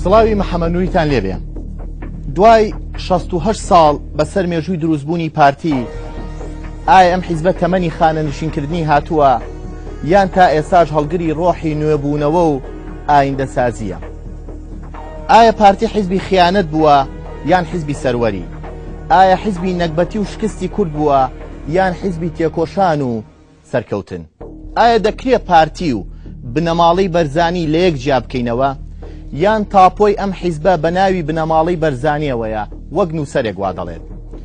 سڵاوی محەمەنووریتان لێبێ دوای 16 ساڵ بەسەر مێژووی دروستبوونی پارتی ئایا ئەم حیزبە تەمەنی خانە نشینکردنی هاتووە یان تا ئێساش هەڵگری ڕۆحی نوێبوونەوە و ئایندەسازییە؟ ئایا پارتی حیزبی خیانەت بووە یان حیزبی سەروەری؟ ئایا حیزبی نەگبەتی و شکستی کورد بووە یان حیزبی تێکۆشان و سەرکەوتن؟ ئایا دەکرێ پارتی و بنەماڵەی بەرزانی لە یەک جیا بکەینەوە یان تاپۆی ئەم حیزبە بە ناوی بنەماڵەی بەرزانییەوەیە وەک نووسەرێک وا دەڵێت؟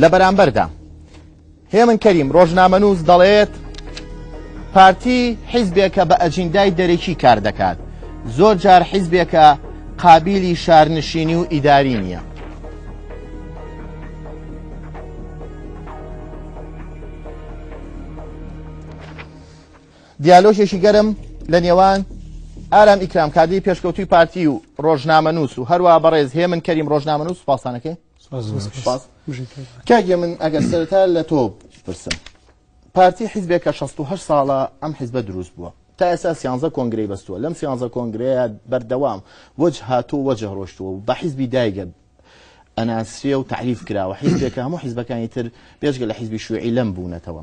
لە بەرامبەردا هێمن کەریم ڕۆژنامەنووس دەڵێت پارتی حیزبێکە بە ئەجیندای دەرەکی کار دەکات زۆر جار حیزبێکە قابلی شارنشینی و ئیداری نییە دیالۆژێکی گەرم لە نێوان ئارام ئیکرام کادی پێشکەوتوی پارتی و ڕۆژنامەنووس و هەروە بەڕێز هێمن کەریم ڕۆژنامەنووس پاسانەکەی کاک یەمن ئەگەر سەرەتا لە تۆ بپرسم پارتی حیزبێک کە 16 ساڵە ئەم حیزبە دروست بووە تا ئێستا سیانزە کۆنگرەی بەستووە لەم سیانزە کۆنگرەیە بەردەوام وەج هاتوو وەجه ڕۆشتووە و بە حیزبی دایگە ئەناسرێ و تعریف کراوە حیزبێکە هەموو حیزبەکانی تر پێشگە لە حیزبی شوعی لەم بوونەتەوە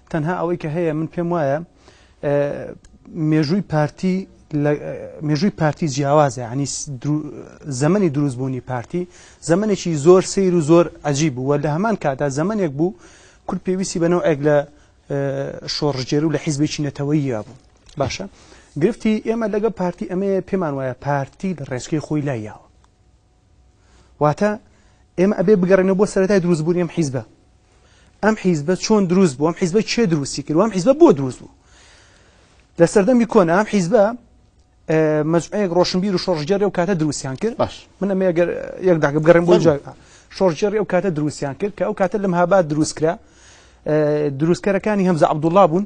تەنها ئەوەی کە هەیە من پێم وایە مێژووی پارتی مێژووی پارتی جیاوازە ینی زەمەنی دروستبوونی پارتی زەمنێکی زۆر سیر و زۆر ئەجی بوو وە لە هەمان کاتا زەمنێک بوو کورد پێویستی بەنەوەێک لە شۆڕژێر و لە حیزبێکی نەتەوەیە بوو باشە گرفتی ئێمە لەگە پارتی ئەمەیە پێمان وایە پارتی لە ڕێچکەی خۆی لایەوە واتە ئێمە ئەبێ بگەڕێنەوە بۆ سەرەتای دروست بوونی ئەم حیزبە ئەم حیزبە چۆن دروست بوو ئەم حیزبە چێ دروستی کرد ئەم حیزبە بۆ دروست بوو لە سەردەمی کۆنا ئەم حیزبە مەجمەیەک ڕۆشنبیر و شۆڕژگەری و کاتە دروستیان کرد باش من ئەمە گەر یەک داگە بگەڕێن بۆ جا شۆڕژێری ئەو کاتە دروستیان کرد کە ئەو کاتە لەم هابات دروستکرا دروستکەرەکانی هەمزە عبدوڵا بوون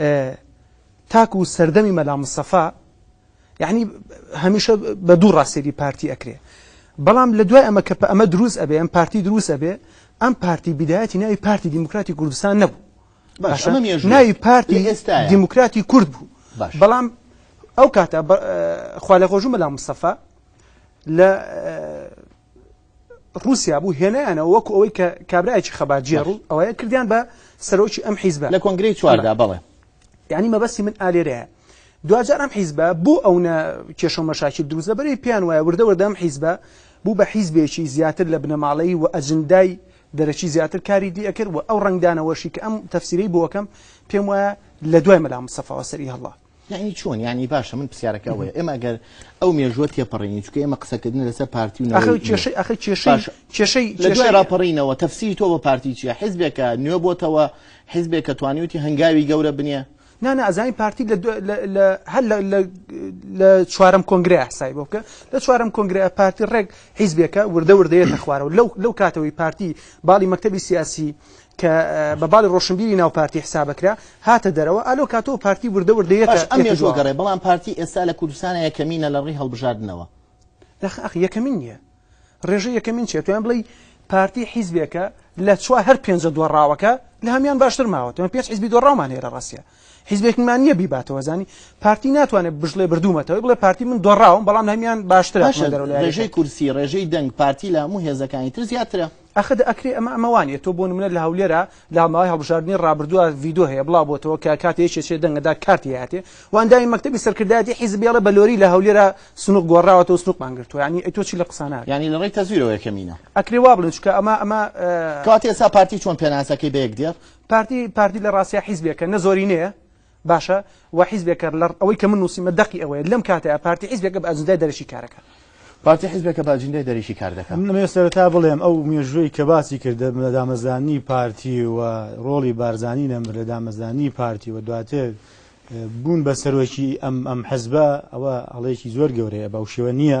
ئێ تاکو سەردەمی مەلا مستەفا یەعنی هەمیشە بە دوو ڕا سەیری پارتی ئەکرێ بەڵام لە دوای ئەمە کە پە ئەمە دروست ئەبێ ئەم پارتی دروست ئەبێ ئەم پارتی بیدایەتی ناوی پارتی دیموکراتی کوردستان نەبوو باش باشە ئەمە مێژووە ناوی لە پارتی ئێستایە دیموکراتی کورد بوو باش بەڵام ئەو کاتە بە خوا لێخۆشبوو مەلا مستەفا لە ڕوسیا بوو هێنایانەوە وەکو ئەوەی کە کابراایکی خەباتجێڕ و ئەوەیە کردیان بە سەرۆکی ئەم حیزبە لە کۆنگری چواردا بڵێ یعنی مەبەستی من ئالێرەیە دوجار ئەم حیزبە بۆ ئەوە کێشە مەشاکی دروست لەبەری پێیان وایە وردە وردەم حیزبە بوو بە حیزبێکی زیاتر لە بنەماڵەی و ئەجندای دەرەکی زیاتر کاری دی ئەکرد و ئەو ڕنگدانەوەشی کە ئەم تەفسیری بۆکەم پێم وایە لە دوای مەلا مسەفاوە سەری هەڵا یانی چۆن یانی باشە من پرسیارەکە ئەوەیە ئێمە ئەگەر ئەو مێژووە تێپەڕێنی چکە ئێمە قسەکردن لەسەر پارتی و نەوەی کێشەی ئەخی کێشەی باش. کێشەی لە دوای کێشەی راپەڕینەوە تەفسیری تۆ بە پارتی چیە حزبێکە نوێ بۆتەوە حزبێکە توانیوتی هەنگاوی گەورە بنیە نا نا ئەزانین پارتی لە دو- لە- لە- هەر لە- لە- لە چوارەم کۆنگرەیە حسای بۆ بکە لە چوارەم کۆنگرەیە پارتی ڕێک حیزبێکە وردە وردەیەتە خوارەوە لەو لەو کاتەوەی پارتی باڵی مەکتەبی سیاسی کە بە باڵی ڕۆشنبیری ناو پارتی حسابەکرا هاتە دەرەوە ئەلۆ کاتۆ و پارتی وردە وردە یەتە باش ئەم مێژووە گەڕێ بەڵام پارتی ئێستا لە کوردستانە یەکەمینە لە ڕووی هەڵبژاردنەوە. نەخ ئەخ یەکەمین نیە ڕێژەی یەکەمین چیە تویان بڵێی پارتی حیزبێکە لە چوار هەر پێنجە دۆڕاوەکە لە هەمیان باشتر ماوە توێن پێنج حیزبی دۆڕاومان هەیە لە ڕاستیا حیزبێکمان نییە بیباتەوە زانی پارتی ناتوانێت بژڵێ بردوومەتەوەی بڵێ پارتی من دۆڕاوم بەڵام هەمیان باشتر باشە ڕێژەی کورسی ڕێژەی دەنگ پارتی لە هەموو هێزەکانی تر زیاترە ئەخە دە ئەکرێ ئەمە ئەمە وانیە تۆ بۆ نمونە لە هەولێرا لە ماوەی هەڵبژاردنی ڕابردووە ڤیدۆ هەیە بڵاو بۆتەوە کە کاتێ یەکێ چێ دەنگە دا کارتی هاتێ و ئەندامی مەکتەبی سەرکردایەتی حیزب بێڵێ بە لۆری لە هەولێرا سنووق گۆڕراوەتەوە و سنووقمان گرتووە یانی ئەی تۆ چی لە قسانە ئەکەی؟ یانی لە ڕێی تەزویرەوە یەکەمینە. ئەکرێ وا بڵێن چونکە ئەمە ئەمە. کەواتە ئێستا پارتی چۆن پێناسەکەی بە یەک دێ؟ پارتی پارتی لە ڕاستیا حیزبێکە نە زۆرینەیە باشە وە حیزبێکە لە ئەوەی کە من نووسیمە دەقی ئەوەیە لەم کاتەیە پارتی حیزبێکە بە ئەجندای دەرەکی کارەکە پارتی حیزبێکە بە ئەجندای دەرەکی کار دەکات من نمێ سەرەتا بڵێم ئەو مێژووی کە باسی کردە لە دامەزرانی پارتی و ڕۆڵی بارزانی نەمر لە دامەزرانی پارتی و دواتر بوون بە سەرۆکی ئەم ئەم حەزبە ئەوە هەڵەیەکی زۆر گەورەیە بەو شێوە نییە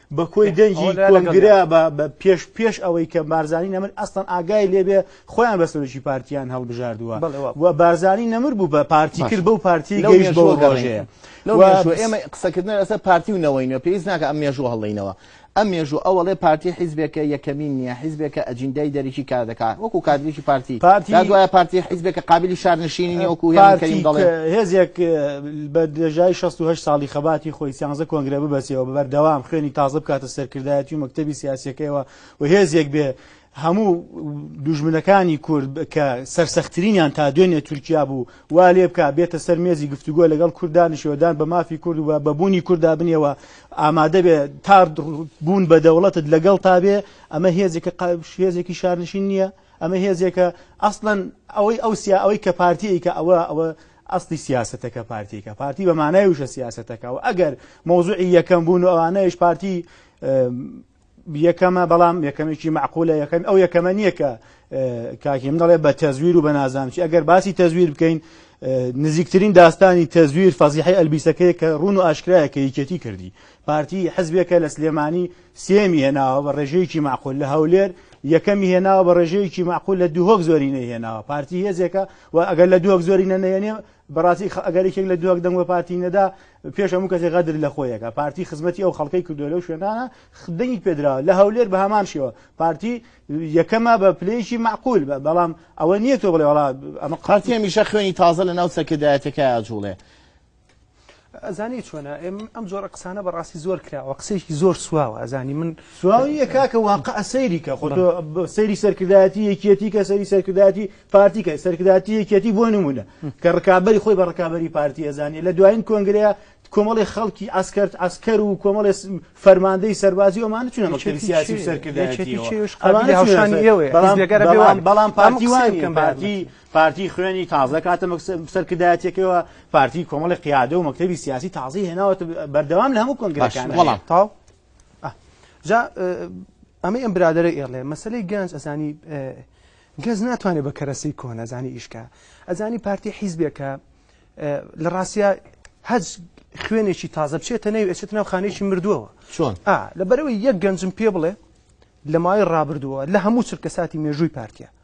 بە کۆی دەنگی کۆنگرە بە پێش پێش ئەوەی کە بارزانانی نەمر ئەستان ئاگای لێبێ خۆیان بە سەرۆکی پارتیان هەڵبژاردووە و بارزانانی نەمر بوو بە پارتی کرد بەو پارتی گەیشت بەوە گەڕژەیە ئێمە قسەکردن لەسەر پارتی و نەوەینە پێویست ناکە ئەم مێژوو هەڵڵینەوە ئەم مێژوو ئەوەڵێ پارتی حیزبێکە یەکەمین نییە حیزبێکە ئەجیندای دەرەکی کار دەکات وەکو کادریکی پارتی پارتی دوایە پارتی حیزبێکە قابلی شارنشینی وەکو هێزێک بە درێژایی شەست و هەشت ساڵی خەباتی خۆی سیانزە کۆنگرە ببەسێەوە بە بەردەوام خوێنی تازە بکاتە سەرکردایەتی و مەکتەبی سیاسەکەیەوە و هێزێک بێ هەموو دوژمنەکانی کورد کە سەرسەختترینیان تا دوێنێ تورکیا بوو وا لێ بک بێتە سەر مێزی گفتوگۆ لەگەڵ کوردانشێوەدان بە مافی کورد و بە بوونی کوردا بنێەوە ئامادە بێ تا بوون بە دەوڵەتت لەگەڵ تا بێ ئەمە هێزێکە قابش هێزێکی شارنشین نییە ئەمە هێزێکە ئەسڵەن ئەوەی ئەوسیا ئەوەی کە پارتیەیکە ئەوە ئەوە ئەسڵی سیاسەتەکە پارتیەکە پارتی بە مانای وشە سیاسەتەکە و ئەگەر مۆزوعی یەکەم بوون و ئەوانەیش پارتی یەکەمە بەڵام یەکەمێکی معقولە یەکەم ئەو یەکەمە نییە کە کاکی من دەڵێ بە تەزویر و بە نازانچی ئەگەر باسی تەزویر بکەین نزیکترین داستانی تەزویر فەزیحی ئەلبیسەکەی کە ڕون و ئاشکرایە کە یکێتی کردی پارتی حزبێکە لە سلێمانی سێیەمی هێناوە بە ڕێژەیەکی مەعقول لە هەولێر، یەکەمی هێناوە بە ڕێژەیەکی مەعقول لە دهۆک زۆرینەی هێناوە، پارتی هێزێکە و ئەگەر لە دهۆک زۆرینە نەهێنێ بەڕاستی ئەگەر یەکێک لە دهۆک دەنگ بە پارتی نەدا پێش هەموو کەسێک غەدر لە خۆیەکە، پارتی خزمەتی ئەو خەڵکەی کردووە لەو شوێنانە دەنگی پێدراوە، لە هەولێر بە هەمان شێوە پارتی یەکەمە بە پلەیەکی مەعقول بە، بەڵام ئەوە نییە تۆ بڵێ وەڵا ئەمە پارتی هەمیشە خوێنی تازە لەناو سەرکردایەتییەکەی ئاجووڵێ. ئەزانی چۆنە ئەم جۆرە قسانە بەڕاستی زۆر کراوە قسێکی زۆر سواوە ئەزانی من سواویە کاکە واقع سەیریکە خۆ سەیری سەرکردایەتی یەکیەتی کە سەری سەرکردایەتی پارتیکە سەرکردایەتی یەکیەتی بۆ نمونە کە ڕکابی خۆی بە ڕکابی پارتی ئەزانانی لە دوایین کۆنگرەیە کۆمەڵی خەڵکی ئاسکرد ئاسکەر و کۆمەڵێ فەرماندەی سەربازی ئەومان چون مەکتەبی سیاسی سەرکردایەتی بەڵام بەڵام پارتی وانکەم پارتی پارتی خوێنی تازە کاتە سەرکردایەتەکەەوە پارتی کۆمەڵی قیادە و مەکتتەبی سیاسی تازی هێناوە بەردەوام لە هەموو کۆنگەکان وڵام تاو جا ئەمە ئەم برادرە ئێڵێ مەسلەی گەنج ئەزانی گەز ناتوانێت بە کەرەسی کۆنەزانی ئیشکە ئەزانی پارتی حیزبێکە لە ڕاستە هەج خوێنێکی تازە بچێتە نەوی ئەچێت ناو خانێکی مردووەوە چۆن لە بەرەوەی یەک گەنجم پێ بڵێ لە ماوەی ڕابردووە لە هەموو چرکە ساتی مێژووی پارتە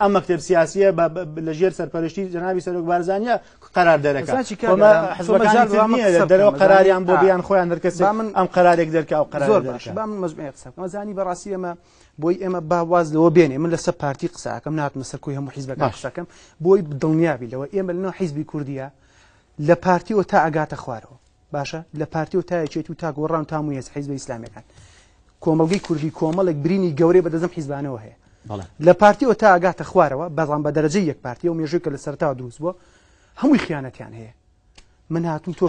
ئەم مەکتەب سیاسیە بە لە ژێر سەرپەرشتی جەنابی سەرۆک بارزانیە قەرار دەرەکە ساچی کە ئەمە ئەمە حزبەکانی مەجال تر بەمە نییە قسە لە بکەم، دەرەوە مەجال- قەراریان بۆ آه. بیان خۆیان دەرکەسێت با من- ئەم قەرارێک دەرکە ئەو قەرار زۆر باش با من مەزمەی قسە بکەم زانی بەڕاستی ئێمە بۆی ئێمە با واز لەوە بێنێ من لەسەر پارتی قساکەم ناتمە سەر کۆی هەموو حیزبەکە باش. قسەکەم بۆی دڵنیابی لەوە ئێمە لەنەوە حیزبی کوردیە لە پارتیەوە تا ئەگاتە خوارەوە باشە لە پارتی و تا یەکێتی و تا گۆڕان تا مویەس حیزبە ئیسلامیەکان کۆمەلگەی کوردی کۆمەڵێک برینی گەورەی بەدەزم حیزبانەوە هەیە لە پارتی و تا ئەگاتە خوارەوە بەڵام بە دەرەجە یەک پارتی و مێژوی کە لە سەرتاوە دروست بووە هەمووی خیانەتیان هەیە من هاتم تۆ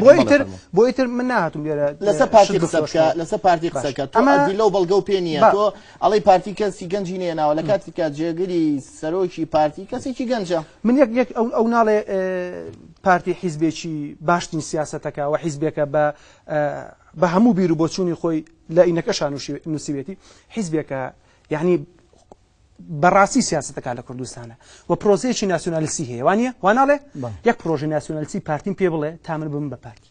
بۆیتر بۆیتر من ناتم لەسەر پارتی قسەکە لەسەر پارتی قسەکە ئەمە لەو بەڵگە و پێ نیە تۆ ئەڵێی پارتی کەسی گەنجی نەیەناوە لە کاتێک کە جێگری سەرۆکی پارتی کەسێکی گەنجە. من یەک یەک ئەو ئەو ناڵێ پارتی حیزبێکی باشترین سیاسەتەکە و حیزبێکە بە بە هەموو بیر و بۆچوونی خۆی لە ئینەکەشان نووسیوێتی حیزبێکە یعنی بەڕاستی سیاستەکە لە کوردستانە و پرۆزەیەکی ناسیۆنالیسی هەیە وانە واناڵێ یەک پرۆژی ناسیۆنالیسی پارتیم پێ بڵێ تا من بم بە پارتی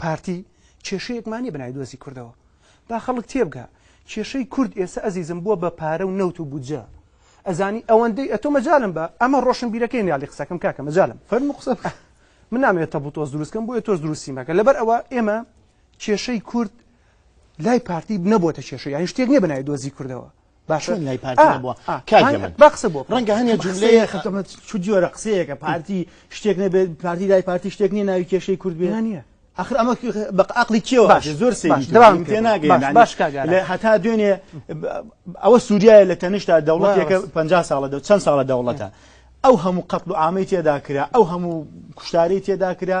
پارتی کێشەیەکمان نیە بەناوی دۆزی کوردەوە با خەڵک تێبگا کێشەی کورد ئێسە ئەزیزم بوە بە پارە و نەوت و بودجە ئەزانی ئەوەندەی ئەتۆ مەجالم بە ئەمە ڕۆشن بیرەکەی نیالی قسەکەم کاکە مەجالم فەرمو قسە بکە من نامەوێت تەبو تۆز دروستکەم بۆیە تۆز دروستی مەکە لەبەر ئەوە ئێمە کێشەی کورد لای پارتی نەبووە کێشە یان شتێک نیە بەناوی دۆزی کوردەوە باشە چۆن لای پارتی نەبووە کاکە من با قسە بۆ ڕەنگە هەنێ جوملەیە خەتەمە چ جۆرە قسەیەکە پارتی شتێک نەبێت پارتی لای پارتی شتێک نییە ناوی کێشەی کورد بێ نییە ئەخر ئەمە بە عقلی کێوە باش زۆر سێری دەوام پێ ناگەێن باش لە هەتا دوێنێ ئەوە سووریایە لە تەنیشتا دەوڵەتێکە پ ساڵە دە چەند ساڵە دەوڵەتە ئەو هەموو قەتڵ و ئامەی تێدا کرا ئەو هەموو کوشتارەی تێدا کرا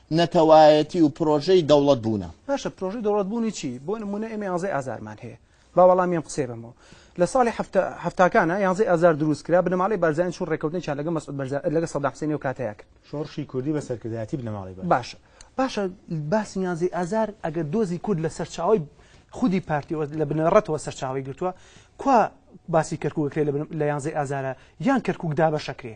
نەتەوایەتی و پرۆژەی دەوڵەت بوونە. باشە پرۆژەی دەوڵەت بوونی چی؟ بۆ نموونە ئێمە یانزەی ئازارمان هەیە، با وەڵامی ئەم قسەیە بەمەوە. لە ساڵی حەفتا هەفتاکانا یانزەی ئازار درووست کرا، بنەماڵەی بارزانی چوون ڕێککەوتنێکیان لەگەڵ مەسعود بەرزا لەگەڵ سەدام حسێنی ئەو کاتەیا کرد. شۆڕشی کوردی بە سەرکردایەتی بنەماڵەی بەرزان. باشە باشە باسی یانزەی ئازار ئەگەر دۆزی کورد لە سەرچاوەی خودی پارتیەوە لە بنەڕەتەوە سەرچاوەی گرتووە، کوا باسی کەرکووک ئەکرێ لە یانزەی ئازارا یان کەرکووک دابەش ئەکرێ؟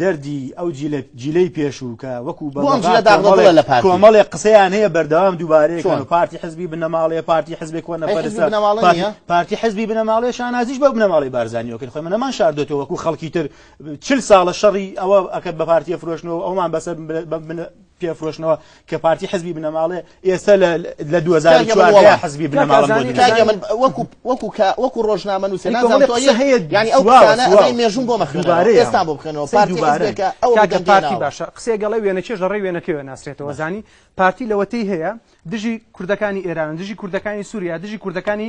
دەردی ئەو جیلە جیلەی پێشوو کە وەکو بۆ ئەم جیلە داغدە دڵە لە پارتی. کۆمەڵێک قسەیان هەیە بەردەوام دووبارەیەکەن و چۆن؟ پارتی حزبی بنەماڵەیە پارتی حزبی کۆنە ئەی حزبی پەرستە بنەماڵە پارتی نییە؟ پارتی حزبی بنەماڵەیە شانازیش بە بنەماڵەی بارزانیەوە کرد خۆی من نەمان شاردۆتەوە وەکو خەڵکی تر چل ساڵە شەڕی ئەوە ئەکرد بە پارتیە فرۆشتنەوە ئەومان بەسەر بن- بە بنە- پێفرۆشنەوە کە پارتی حزبی بنەماڵێ ئێستا لە لە 2014 حزبی وەکو ڕۆژنامە نووسێ مێژون بۆ مەخبارەی ئێستا بۆ بخێنەوە پارتیکە ئەو پارتی باشە قسێ گەڵێ وێنە چێژ لە ڕێ وێنەکەوە ناسرێتەوە زانی پارتی لەوەتی هەیە دژی کوردەکانی ئێران دژی کوردەکانی سووریا دژی کوردەکانی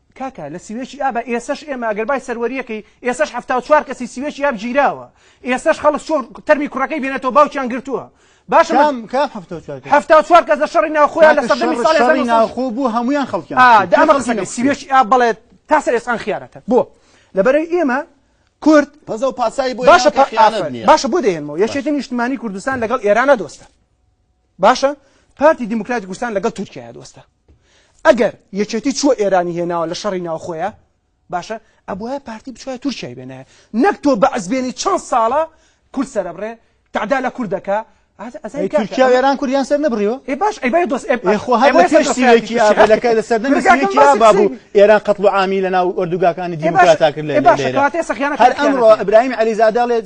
کاکە لە سوێچی ئابە ئێسەش ئێمە ئەگەر بای سەروەریەکەی ئێسەش حەفتا و چوار کەسی سوێچی ئاب گیراوە ئێسەش خەڵک چۆ تەرمی کوڕەکەی بێنێتەوە باوکیان گرتووە باشە کام کام هەفتە و چوار کەس؟ هەفتە و چوار کەس لە شەڕی ناوخۆیان لە کاکە سەردەمی شەڕ ساڵی شەڕی 1900 ناوخۆ بوو هەمویان خەڵکیان آه، کوشت. دا کێ ئەمە خەڵکی قسەکە نەکوشت؟ سوێچ ئاب بڵێت تاسە ئێسان خیانەتە بۆ لەبەرەی ئێمە کورد پەزە و پاسایی بۆ باشە ناوکە خیانەت ئافرەت. نییە باشە بۆ دەهێنمەوە یەکێتی نیشتمانی کوردستان لەگەڵ ئێرانە دۆستە باشە پارتی دیموکراتی کوردستان لەگەڵ تورکیا دۆستە ئەگەر یەکێتی چوە ئێرانی هێناوە لە شەڕی ناوخۆیە باشە ئەبواە پارتی بچوای تورکیای بێنە نەک تۆ بەعزبێنی چەند ساڵە کورد سەرەبڕێ تعدا لە کوردەکە تورکیا وێران کوردیان سەر نەبڕیوە ئێ باش ئەی بای دۆست ئێخۆهاێکی ئابلەکە لە سەر نەمێکی بابوو ئێران قەتڵ و عامی لە ناو ئۆردوگاکانی دیموکراتاکرد لە باشەکەاتێ سەخیانە هەر ئەمڕۆ ئەبراهیم علیزاداڵێت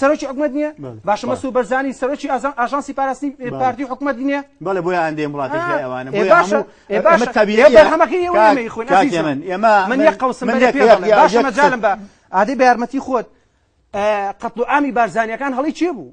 سەرۆکی حکومەت نییە باشە مەسو بەرزانی سەرۆکی ئاژانسی پاراستنی پارتی حکومەت نییە بەڵێ بۆ ئەندێ وڵاتیوانە ئەمەجالم بە ئادەی بە یارمەتی خۆت قەتڵ ئامی بارزانانیەکان هەڵی چێ بوو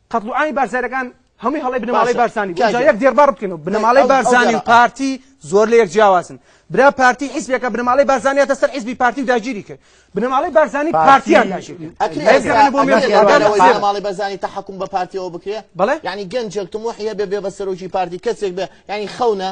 قەتڵ و عامی بارزایرەکان هەمووی هەڵەی بنەماڵەی بارزانی بوو جا یەک دێڕ بەڕ بکەین و بنەماڵەی بارزانی و پارتی زۆر لە یەک جیاوازن برا پارتی حیزبێکە بنەماڵەی بارزانیا تە سەر حیزبی پارتی و داگیری کرد بنەماڵەی بارزانی پارتیان داگیرماڵی بەزانی تا حکوم بە پارتیەوە بکرێ بڵێ ینی گەنجێک تموحە بێ بێ بە سەرۆکی پارتی کەسێک بێ ینی خەونە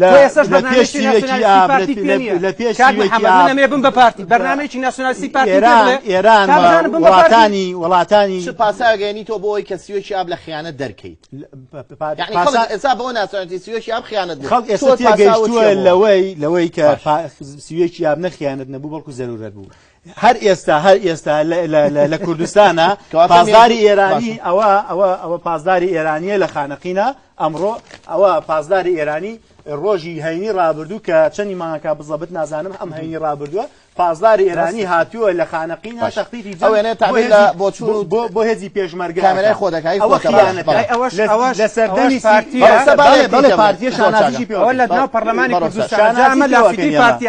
لە پێشی بم بە پارتی بەرنمێکی ناسیۆنالیستی پارتی ئێران وڵاتانی وڵاتانی پاساگەێنی تۆ بۆی کە سیۆکی ئاب لە خیانە دەرکەیت ئێسا بۆ ناسیۆناتی سیۆکی ئاب خیانەت خەڵک ئێستا لەوەی لەوەی کە سیۆکی ئاب نەخیانەت نەبوو بەڵکو زەرورەت بوو هەر ئێستا هەر ئێستا لە کوردستانە پازداری ئێرانی ئەوە ئەوە ئەوە پازداری ئێرانیە لە خانەقینە ئەمڕۆ ئەوە پازداری ئێرانی ڕۆژی هەینی ڕابردوو کە چەنی ماکە بزەبت نازانم ئەم هەینی ڕابردووە پازداری ئێرانی هاتووە لە خانەقی ناشەختی بۆ هێزی پێشمەرگە کامێرای خۆ دەکای لە سەردەمی پارتی پارتی لە پەرلەمانی کوردستان پارتی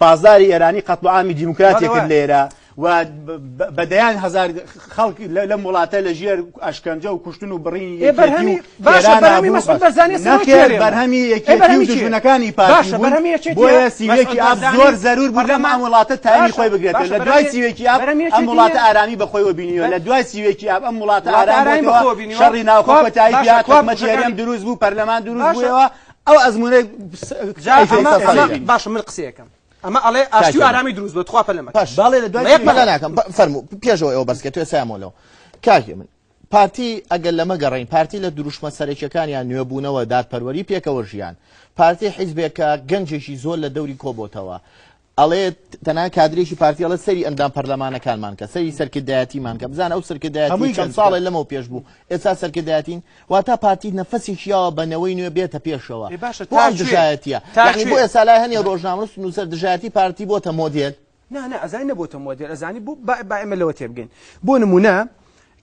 پاسداری ئێرانی قەتڵوعامی دیموکراتی کرد لێرە و بە دەیان هزار خەڵک لەم وڵاتە لە ژێر ئەشکەنجە و کوشتن و بڕینی بەرهەمی دژمنەکانی پاشە بەرهەمی بۆیە سیوێکی ئاب زۆر زەرور بوو لەم وڵاتە تامی خۆی بگرێت لە دوای سیوێکی ئاب ئەم وڵاتە ئارامی بەخۆیەوە بینیوە لە دوای سیوێکی ئاب ئەم وڵاتە ئارامی شەڕی ناوخۆ بەتایی کۆمەچێریم دروست بوو پەرلەمان دروست بووەوە ئەو ئەزمونە باشە من قسەکەم ئەمە ئەڵێ ئاشتی ئارامی دروست بە تخوا پەلمە باڵێ لە دوای مەلاناکەم فەرمو پێشەوە ئەو بەسکە توێ سامۆلەوە کاکی من پارتی ئەگەر لەمە گەڕین پارتی لە دروشمە سەرەکیەکانیان نوێبوونەوە دادپەروەری پێکەوە ژیان پارتی حیزبێکە گەنجێکی زۆر لە دەوری کۆبتەوە ئەڵێت تەنها کادرێکی پارتی ئەڵێت سەری ئەندام پەرلەمانەکانمان کە سەری سەرکردایەتیمان کە بزانە ئەو سەرکردایەتی چەند ساڵێ لەمەو پێش بوو ئێستا سەرکردایەتین واتا پارتی نەفەسێکی یاوە بە نەوەی نوێ بێتە پێشەوە بۆ ئەم دژایەتیە یعنی بۆ ئێستا لای هەنێ ڕۆژنامەنووس نووسەر دژایەتی پارتی بۆتە مۆدێل نا نا ئەزانی نەبووتە مۆدێل ئەزانی بوو با ئێمە لەوە تێبگەین بۆ نمونە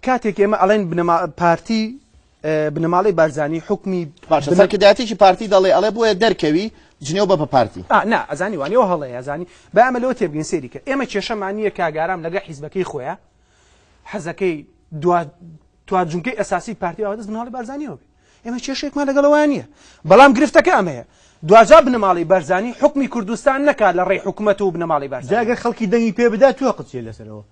کاتێک ئێمە ئەڵێن بنەما پارتی بنەماڵەی بارزانی حوکمی باشە سەرکردایەتیی پارتی دەڵێ ئەڵێ بۆیە دەرکەوی جنێو بە بە پارتی. ئا نا ئەزانی وانیە و هەڵەیە ئەزانی با ئەمە لەوە تێبگەین سەیری کە ئێمە کێشەمان نییە کاک ئارام لەگە حیزبەکەی خۆیا حەزەکەی دوا توا جونکەی ئەساسی پارتی ئەوە دەست بناڵی بارزانانیەوە بێ ئێمە کێشێکمان لەگەڵەوەیان نییە بەڵام گرفتەکە ئەمەیە دواجا بنەماڵی بەرزانی حکمی کوردستان نەکات لە ڕێی حکوومەت و بنەماڵی بەرزاگە خەڵکی دەنگی پێ بدات توە قچێ لەسەرەوە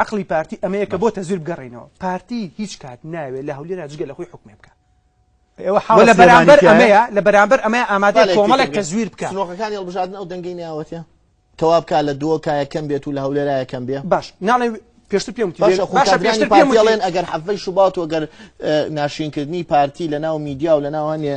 ئەقڵی پارتی ئەمەیە کە بۆ تەزویر بگەڕێنەوە پارتی هیچ کات ناوێت لە هەولێرا جگە لە خۆی حکومێ بکە ئێوە حاڵ لە بەرامبەر ئەمەیە لە بەرامبەر ئەمە ئامادە کۆمەڵێک تەزویر بکە سنۆخەکانی هەڵبژاردن ئەو دەنگی ناوەتە کەوا بکە لە دووە کایە کەم بێت و لە هەولێرا یەکەم بێ باش ناڵێ پێشتر پێم پێشتر پێڵێن ئەگەر حەفەی شوبات و گەر ناشینکردنی پارتی لە ناو میدیا و لە ناوانێ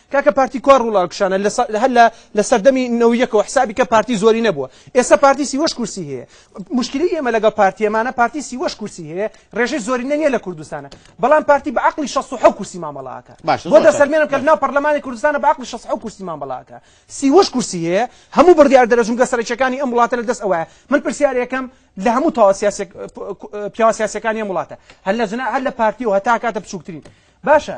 کاکە پارتی کوا ڕوڵا کشانە هەر لە لە سەردەمی نەوەی یەکەوە حسابی کە پارتی زۆری نەبووە ئێستا پارتی سیوەش کورسی هەیە مشکلی ئێمە لەگەڵ پارتیەمانە پارتی سیوەش کورسی هەیە ڕێژەی زۆری نە نیە لە کوردستانە بەڵام پارتی بە عقلی 16 کورسی مامەڵاکە باش بۆ دە سەرمێنم کە ناو پەرلەمانی کوردستانە بە عقلی 16 کورسی مامەڵاکە سیوەش کورسی هەیە هەموو بڕیار دەرە جونگە سەرچەکانی ئەم وڵاتە لە دەست ئەوە من پرسیارەکەم لە هەموو تاوا سیاسی پیاوە سیاسەکانی ئەم وڵاتە هەر لە جنا هەر لە پارتی و هەتا کاتە بچووکترین باشە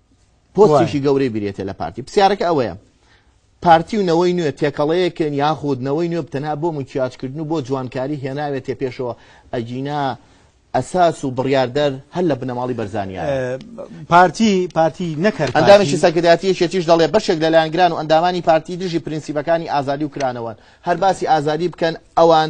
پۆستێکی گەورەی بریتە لە پارتی پرسیارەکە ئەوەیە پارتی و نەوەی نوێ تێکەڵەیەکن یاخود نەوەی نوێ بتەنها بۆ مکیاجکردن و بۆ جوانکاری هێناوێتێ پێشەوە ئەگینا ئەساس و بڕاردەر هەر لە بنەماڵی بەرزانیا پارتی پارتی نەکرد ئەندامێکی سەکرداتی شێتیش دەڵێ بەشێک لە لایەنگران و ئەندامانی پارتی دژی پرینسیبەکانی ئازادی و کرانەوەن هەر باسی ئازادی بکەن ئەوان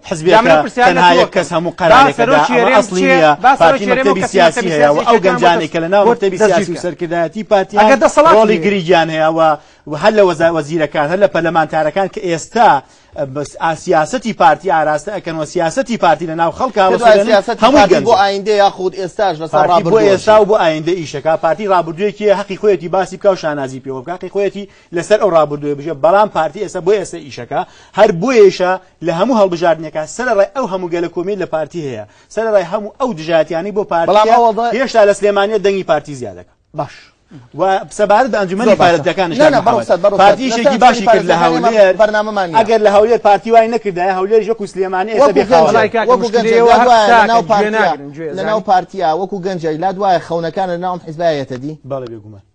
حزبەکە تەنها یەک کەس هەموو قەرارێکەدا ئەمە ئەسڵی نییە پارتی مەکتەبی سیاسی هەیە و ئەو گەنجانەی کە لەناو مەکتەبی سیاسی و سەرکردایەتی پارتی ئەگەر دەسەڵات ڕۆڵی گریگیان هەیە و و هەر لە وەزا وەزیرەکان هەر لە پەرلەمانتارەکان کە ئێستا بەس ئاسیاستی پارتی ئاراستە ئەکەن و سیاستی پارتی لە ناو خەڵک هەموو گەن بۆ ئایندە یاخود ئێستاش لە بۆ ئێستا و بۆ ئایندە ئیشەکە پارتی ڕابردوێکی حقی خۆیەتی باسی بکە و شانازی پێوە بکاتی خۆیەتی لەسەر ئەو ڕابردووە بژێ بەڵام پارتی ئێستا بۆ ئێستا ئیشەکە هەر بۆیشە لە هەموو هەڵبژاردنەکە سەر ڕای ئەو هەموو گەلە کۆمی لە پارتی هەیە سەر ڕای هەموو ئەو دژاتیانی بۆ پارتی هێشتا لە سلێمانە دەنگی پارتی زیادەکە باش سەبارەت بە ئەنجومەنی پارێزگەکانیش پارتیشێکی باشی کرد لە هەولێر بەرنامەمان ئەگەر لە هەولێر پارتی وای نەکردای هەولێر ژەکو سلێمانی لەناو پارتیا وەکو گەنجای لا دوایە خەونەکان لە ناوم حیزبایەتە دی بەڵێ بێگومان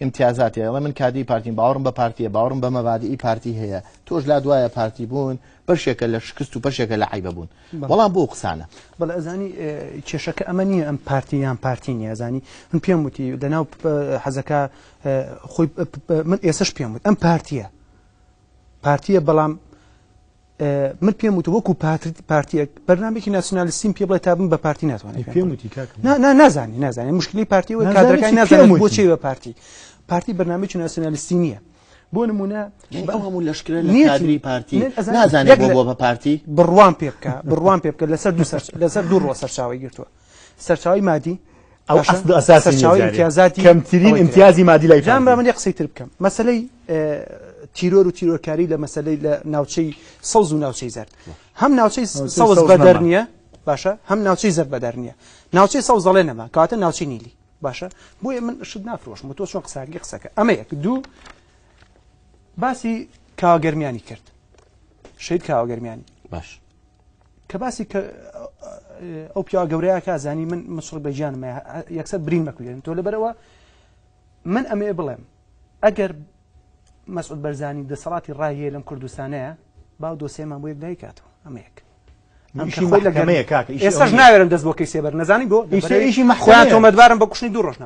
ئیمتیازاتی ئەڵێ من کادری پارتیم باوەڕم بە پارتیە باوەڕم بە مەبادیئی پارتی هەیە تۆش لات وایە پارتی بوون بەشێکە لە شکست و بەشێکە لە عیبە بوون بەڵام بۆ قسانە بەڵ ئەزانی کێشەکە ئەمە نییە ئەم پارتی یان پارتی نیازانی من پێم وتی لەناو حەزەکە خۆی من ئێسش پێم وت ئەم پارتیە پارتیە بەڵام من پێم وتە وەکو پارتیەک بەرنمێکی ناسیۆنالیستیم پێ بڵێ تا بم بە پارتی ناتوانانی پێم وتی نازانی نازانانی مشکلی پارتی و کادەکانی نازانم بۆچی بە پارتی پارتی بەرنمێکی ناسیۆنالیستی نییە بۆ نمونە هەموو لەشکرە لەنیری پارتی نازانێت بۆ بە پارتی بڕوان پێ بکە بڕوان پێ بکە لەسەر لەسەر دوو ڕۆ سەرچاوی گرتووە سەرچاوی مادی کەمترین امتیازی مادی لای جام من قسەی تر بکەم مەسلەی تیرۆر و تیرۆرکاری لە مەسلەی لە ناوچەی سەوز و ناوچەی زەر هەم ناوچەی سەوز بەدەر نییە باشە هەم ناوچەی زەر بەدەر نییە ناوچەی سەوز دەڵێ نەما کاتە ناوچەی نیلی باشە بۆیە من شت نافرۆشم تۆ چۆن قساگی قسەکە ئەمە یەک دوو باسی کاگەرمیانی کرد شید کاوەگەرمیانی باش کە باسی کە ئەو پیاوە گەورەیە کا زانی من مسڕ بە گیانم یەکسەر برین مەکولێن تۆ لەبەرەوە من ئەمێ بڵێم ئەگەر مەسعود بەرزانی دەسەڵاتی ڕایە لەم کوردستانەیە باو دۆسێمان بۆ یەک دایکاتەوە ئەمەیەک ئێسش ناوێرم دەست بۆ کەی سێبەر نەزانی بۆ ئیشی مەخوایان تۆمەدوارم بە کوشتنی دوو ڕۆژنا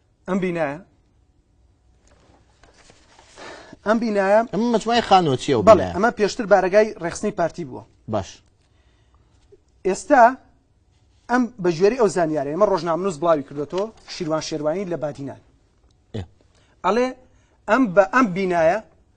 ئەم بینایە ئەم بینایە ئەم مجموعی خانۆچیە و بەڵێ ئەمە پێشتر بارگای ڕێخستنی پارتی بووە باش ئێستا ئەم بە ژێری ئەو زانیارە ئمە ڕۆژنامنووس بڵاوی کردێتەوە شیروان شێوانی لە بادینان ئەڵێ ئەم بە ئەم بینایە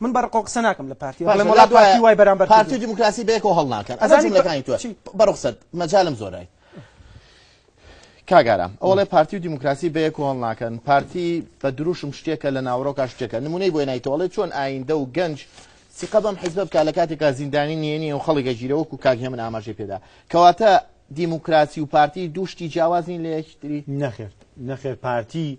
من بە رقۆ قسە ناکەم لە پارتی باشە ئەڵێم وەڵا لای پارتی وای بەرامبەر کردووە پارتی و دیموکراسی بەیەکەوە هەڵناکەن ئەزانی ئەزانی جملەکانی تۆ چی؟ بە روخسەت مەجالم زۆرای کاک ئارام ئەو ئەڵێ پارتی و دیموکراسی بەیەکەوە هەڵناکەن پارتی بە دروشم شتێکە لە ناوەڕۆکا شتێکە نمونەی بۆی نایتەوە ئەڵێ چۆن ئایندە و گەنج سیقە بەم حیزبە بکا لە کاتێکا زیندانی نێنیە و خەڵک ئەگیرێ وەکو کاک هێمن ئاماژەی پێدا کەواتە دیموکراسی و پارتی دوو شتی جیاواز نین لە یەکتری نەخێر نەخێر پارتی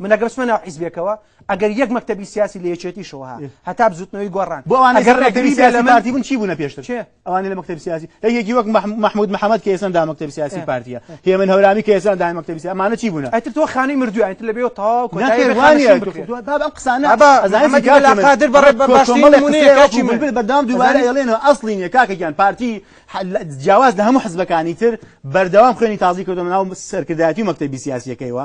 من ئەگەر بچمە ناو حیزبێکەوە ئەگەر یەک مەکتەبی سیاسی لە یەکێتیشەوە ها هەتا بزوتنەوەی گۆڕان بۆ ئەوانە ئەگەر ڕێگری بێ لە پارتی بوون چی بوونە پێشتر چێ ئەوانە لە مەکتەبی سیاسی لە یەکی وەک محمود محەممەد کە ئێستا دا مەکتەبی سیاسی پارتیە هێمن هەورامی کە ئێستا دا مەکتەبی سیاسی ئەمانە چی بوونە ئەتر تۆ خانەی مردووە ئەتر لە بێ تاو بابم قسانە قادر بەڕێ بەباشی بەدام دووبارە ئێڵێنەوە ئەسڵینە کاکەگیان پارتی جیاواز لە هەموو حزبەکانی تر بەردەوام خوێنی تازی کردو ناو سەرکردایەتی مەکتەبی سیاسیەکەیەوە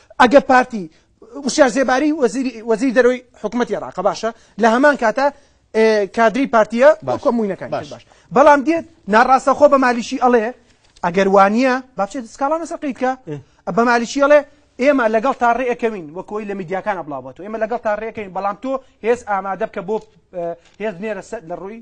ئەگەر پارتی وشیار زێباری وەزیری وەزیری دەرەوەی حکوومەتی عێراقە باشە لە هەمان کاتە ئێ، کادری پارتیە بۆ باش. کۆموینەکانی باش. باش. باش بەڵام دێت ناڕاستە خۆ بە مالیشی ئەڵێ ئەگەر وانە بابچێت سکاڵانە سەقیت کە بە مالیشی ئەڵێ ئێمە لەگەڵ تا ڕێەکەوین وەکۆی لە میدیاکان بڵاوبەوە ئێمە لەگەڵ تا ڕێەکەین بەڵام تۆ هێز ئامادە بکە بۆ اه، هێز نێرە سەر لە ڕووی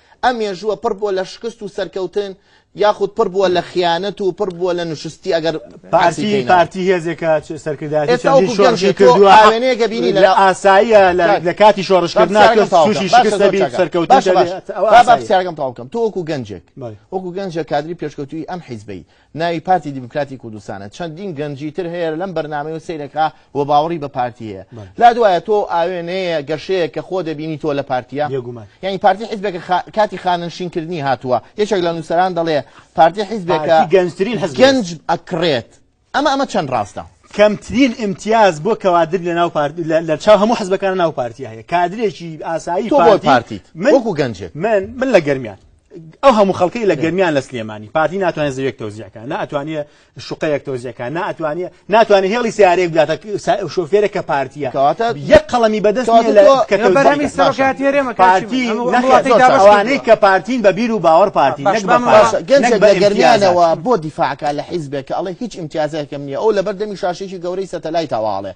ئەم مێژووە پڕ بووە لە شکست و سەرکەوتن یاخود پڕ بووە لە خیانەت و پڕ بووە لە نشستی ئەگەر پارتی پارتی هێزێکە سەرکردایەتی چەندین شۆڕشی کردووە ئاوێنەیەکە بینی لە ئاساییە لە کاتی شۆڕشکردنا تووشی شکست دەبی سەرکەوتن باشە باشە با پرسیارەکەم تەواو بکەم تۆ وەکو گەنجێک وەکو گەنجێک کادری پێشکەوتووی ئەم حیزبەی ناوی پارتی دیموکراتی کوردستانە چەندین گەنجی تر هەیە لەم بەرنمەی و سیرەکە و باوەڕی بە پارتی هەیە لا دوایە تۆ ئاوێنەیە گەشەیە کە خۆ دەبینی تۆ لە پارتیا یعنی پارتی حزبێک کاتی خانەنشینکردنی هاتووە یەکێک لە نووسەران دەڵێ پارتی حزبێکە گەنجترین حز گەنج ئەکرێت ئەمە ئەمە چەند ڕاستە کەمترین امتیاز بۆ کەوادر لە ناو پارت لە چاو هەموو حزبەکان ناو پارتی هەیە کادرێکی ئاسایی پارتی من و گەنجێت من من لە گەرمیان ئەو هەموو خەڵکەی لە گەرمیان لە سلێمانی پارتی ناتوانێت زەوێک تۆزیەکە ناتوانێت شوقەیەک تۆزیەکە ناتوانێت ناتوانێت هێڵی سیارێک بداتە شۆفێرە کە پارتیە کەواتە یەک قەڵەمی بەدەست بەرهەمی سەرۆکاتی هەرێمە پارتی ئەوانەی کە پارتین بە بیر و باوەڕ پارتی گەنج بە گەرمیانەوە بۆ دیفاعکە لە حیزبێک کە ئەڵێ هیچ امتیازێکم نییە ئەو لەبەر دەمی شاشێکی گەورەی سەتەلای تاواڵێ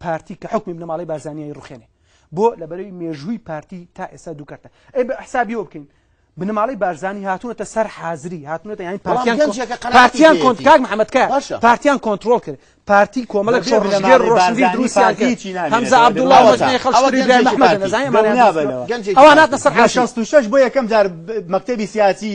پارتی کە حکمی بنەماڵەی بارزانیایی ڕوخێنێ بۆ لە بەرەوی مێژووی پارتی تا ئێستا دوو کەرتە ئەی بە حسابیەوە بکەین بنەماڵی بارزانانی هاتوونەتە سەر حازری هاتوونەتە یانی پارتیان کۆنت کاک محەممەدکە پارتیان کۆنتترۆل کرد پارتی کۆمەڵک شۆڕژگەر ڕۆشنبیر دروستیان هەمزە عبدوڵڵاوەزانەمەدەزانانی ئەوانات لەسەر شش بۆ یەکەم جار مەکتتەبی سیاسی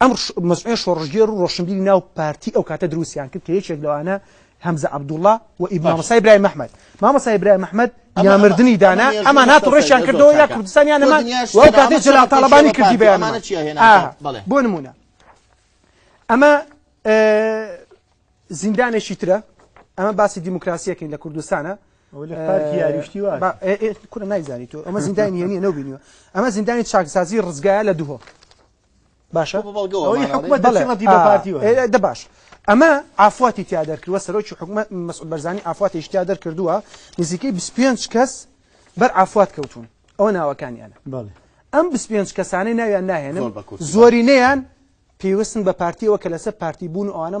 ئەم مەزعومە شۆڕشگێڕ و ڕۆشنبیری ناو پارتی ئەو کاتە دروستیان کرد کە یەکێک لەوانە هەمزە عەبدوڵڵا و ئیبن مامۆستا ئیبراهیم ئەحمەد مامۆستا ئیبراهیم ئەحمەد یا مردنی دانا ئەمان هات و ڕێشیان کردەوە یا کوردستان یان ئەمان و ئەو کاتەی جەلال تاڵەبانی کردی بەیانمانە چیە هێنا بۆ نمونە ئەمە زیندانێکی ترە ئەمە باسی دیموکراسیەکەین لە کوردستانە کورە نایزانی تۆ ئەمە زیندانی هێنیە نەبینیوە ئەمە زیندانی چاکسازی ڕزگایە لە دوهۆ باشە ئەوەی حکومەت دەڵێ ڕەتی بە پارتی وایە دە باش ئەمە ئافواتی تیا دەرکردوە سەرۆکی حکومەت مەسعود بەرزانی ئافواتی شتیا دەرکردووە نزیکەی 25 کەس بەر ئافوات کەوتون ئەوە ناوەکانیانە بەڵێ ئەم 25 کەسانەی ناویان ناهێنن زۆرینەیان پێوستن بە پارتیەوە کە لەسەر پارتی بوون و ئەوانە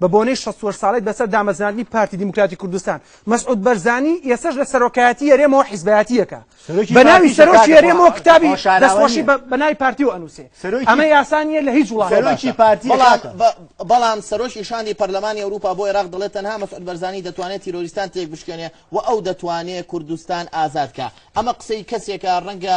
بە بۆنەی شەست و هەشت ساڵەی بەسەر دامەزراندنی پارتی دیموکراتی کوردستان، مەسعود بەرزانی ئێستەش لە سەرۆکایەتی هەرێمەوە حیزبایەتییەکە بە ناوی سەرۆکی هەرێمەوە کتابی دەستخۆشی بە ناوی پارتیەوە ئەنووسێ، ئەمە یاسا نییە لە هیچ وڵاتێکا. بەڵام سەرۆکی شاندی پەرلەمانی ئەوروپا بۆ ئێراق دەڵێت تەنها مەسعود بەرزانی دەتوانێت تیرۆریستان تێکبشکێنێ و ئەو دەتوانێ کوردستان ئازاد کا. ئەمە قسەی کەسێکە ڕەنگە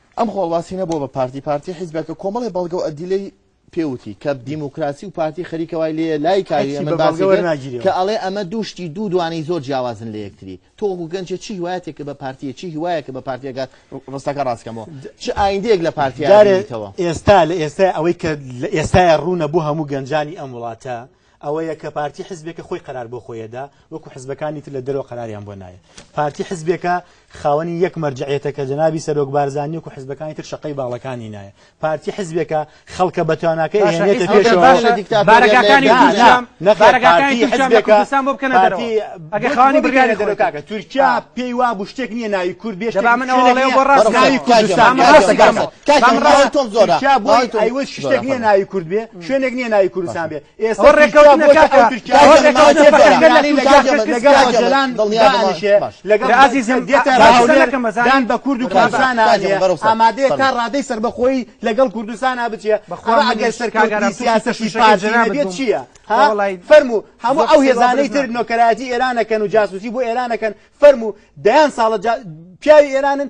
ئەم خۆڵواسینە بۆ بە پارتی پارتی حیزبە کە کۆمەڵی بەڵگە و ئەدیلەی پێوتی کە دیموکراسی و پارتی خەریکە وای لێ لای کاری ئەمە باسی کە ئەڵێ ئەمە دوو شتی دوو دوانەی زۆر جیاوازن لە یەکتری تۆ وەکو گەنجێ چی هیوایەتێک کە بە پارتیە چی هیوایە کە بە پارتیەکە ڕستەکە ڕاستکەمەوە چ ئایندەیەک لە پارتیارێتەوە ئێستا لە ئێستا ئەوەی کە لە ئێستای ڕوونە بۆ هەموو گەنجانی ئەم وڵاتە ئەوەیە کە پارتی حزبێکە خۆی قەرار بۆ خۆی ئەدا، وەکو حزبەکانی تر لە دەرەوە قەراریان بۆ نایێ. پارتی حزبێکە خاوەنی یەک مەرجەعیەتە کە جەنابی سەرۆک بارزانی وەکو حزبەکانی تر شەقەی باڵەکانی نایێ. پارتی حزبێکە خەڵکە بە تواناکەی ئەهێنێتە پێشەوە. بارەگاکانی تورکیام بارەگاکانی تورکیام لە کوردستان بۆ بکەنە دەرەوە ئەگەر خاوەنی بڕیاری خۆی بن. تورکیا پێی وا بوو شتێک نییە ناوی کورد بێ شتێک نییە ناوی کوردستان بێ. کاکە ئەوەی تۆڵ زۆرە. تورکیا بۆی ئەیوەست شتێک نییە ناوی کورد بێ. شوێنێک نییە ناوی کوردستان بێ ئێستا لەگەڵدان بە کورد و کوردستان ئامادەیە تا ڕادەی سربەخۆی لەگەڵ کوردستان بچێ ئەگەر سەرکارگەران سیاسەشی پارجێت چییە فەرمو هەموو ئەو هێزانەی تر نۆکەراتی ئێرانەکەن و جاسوسی بۆ ئێرانەکەن فەرمو دەیان ساڵە پیاوی ئێرانن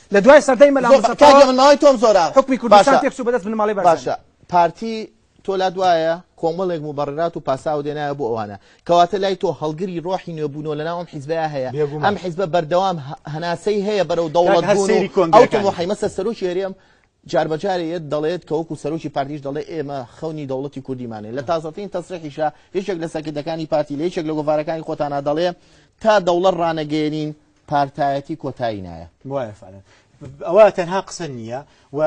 لە دوای سەردەی مەلا زۆر مستەفاوە کاکە من ماوەی تۆم زۆرە حوکمی کوردستان باشە تێکچوو بەدەست بنەماڵەی بارزانی. باشە پارتی تۆ لات وایە کۆمەڵێک موبەڕرات و پاساو دێنایە بۆ ئەوانە کەواتە لای تۆ هەڵگری ڕۆحی نوێ بوونەوە لەناو ئەم حیزبەیە هەیە بێگوومان. ئەم حیزبە بەردەوام هە- هەناسەی هەیە بەرەو کاکە دەوڵەت هەر بوون و سەیری ئەو کۆنگرەکانی بکە. تەمۆحەی مەسە سەرۆکی هەرێم جار بە جارێ یەت دەڵێت کە وەکو سەرۆکی پارتیش دەڵێ ئێمە خەونی دەوڵەتی کوردیمانەیە لە تازەترین تەسریحیشا یەکێک لە سەرکردەکانی پارتی لە یەکێک لە گۆڤارەکانی خۆتانا دەڵێ تا دەوڵەت ڕانەگەیەنین پارتایەتی کۆتایی نایە. وایە فعلا ئەوە تەنها قسە نییە و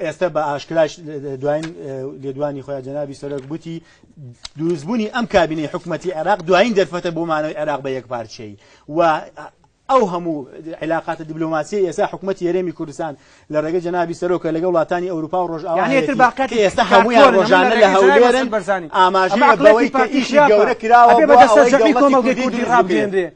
ئێستا بە ئاشکراش دوایین لێدوانی خۆیان جەنابی سەرۆک گوتی دروستبوونی ئەم کابینەی حکوومەتتی عێراق دوایین دەرفەتە بۆ مانەوەی عێراق بە یەک پارچەی و ئەو هەموو عیلااقاتە دیبلوماسی ئێستا حکوومەت یارێمی کوردستان لە ڕێگە جەنابی سەرۆکە لەگە وڵاتانی ئەوروپا و ڕۆژاوانێتر باقەتی ئێستا هەموویان ڕۆژانە لە هەولێرن بەرزانانی ئاماژەی بەوەی کە ئیشی گەورە کراوە بە دەسەر کۆمەڵگەی کوردی ڕابێنرێ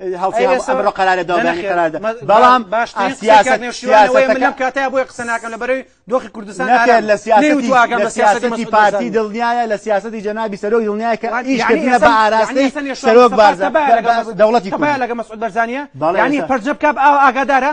ئەمڕۆ قرارە دابنی قراردا بەڵام باش لەم کاتە بۆی قسە ناکەم لە بەرەوی دۆخی کوردستان لە سیاستی پارتی دڵنیایە لە سیاستی جەنابی سەرۆک دڵنیای کە ئیشکردە بە ئاراستی سەرۆک بارزە دەوڵەتی لەگە مەسعود بەرزانە بەڵێنی پرجە بکە ئاگادارە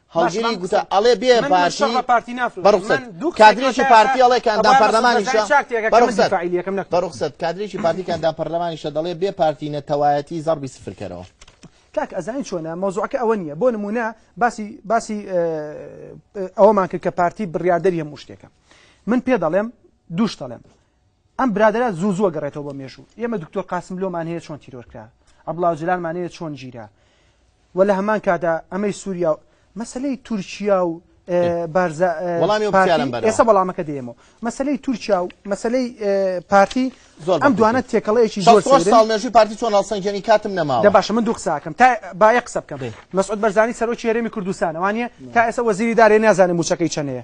هەڵگری گوتە ئەڵێ بێ پارتی پارتی ناف بەڕخسەت کادرێکی پارتی ئەڵێ کاندان پەرلەمانیشە بەڕخسەت بەڕخسەت کادرێکی پارتی کاندان پەرلەمانیشە دەڵێ بێ پارتی نەتەوایەتی زەڕبی سفرکەرەوە کاک ئەزانین چۆنە مەوزوعەکە ئەوە نییە بۆ نمونە باسی باسی ئەوەمان کرد کە پارتی بڕاردەری هەموو شتێکە من پێ دەڵێم دووش دەڵێم ئەم برادەرە زوو زوو گەڕێتەوە بۆ مێژوو ئێمە دکتۆر قاسملۆمان هەیە چۆن تیرۆر کرا ئەبڵاو جلالمان هەیە چۆن گیرا و لە هەمان کادا ئەمەی سووریا و مەسلەی تورکیا و ئێستا بەڵامەکە دێمەوە مەسلەی تورکیا و مەسلەی پارتی زۆر ئەم دوانە تێکەڵەیەکی زۆرژی پارتی چۆن هەڵسەنگێنی کاتم نەما دە باشە من دوو قساکەم تا باە قسە بکەم مەسعود بەرزانی سەرۆکی هەرێمی کوردستانەوانە تا ئێستا وەزیری دارێ نازانم موچەکەی چەنەیە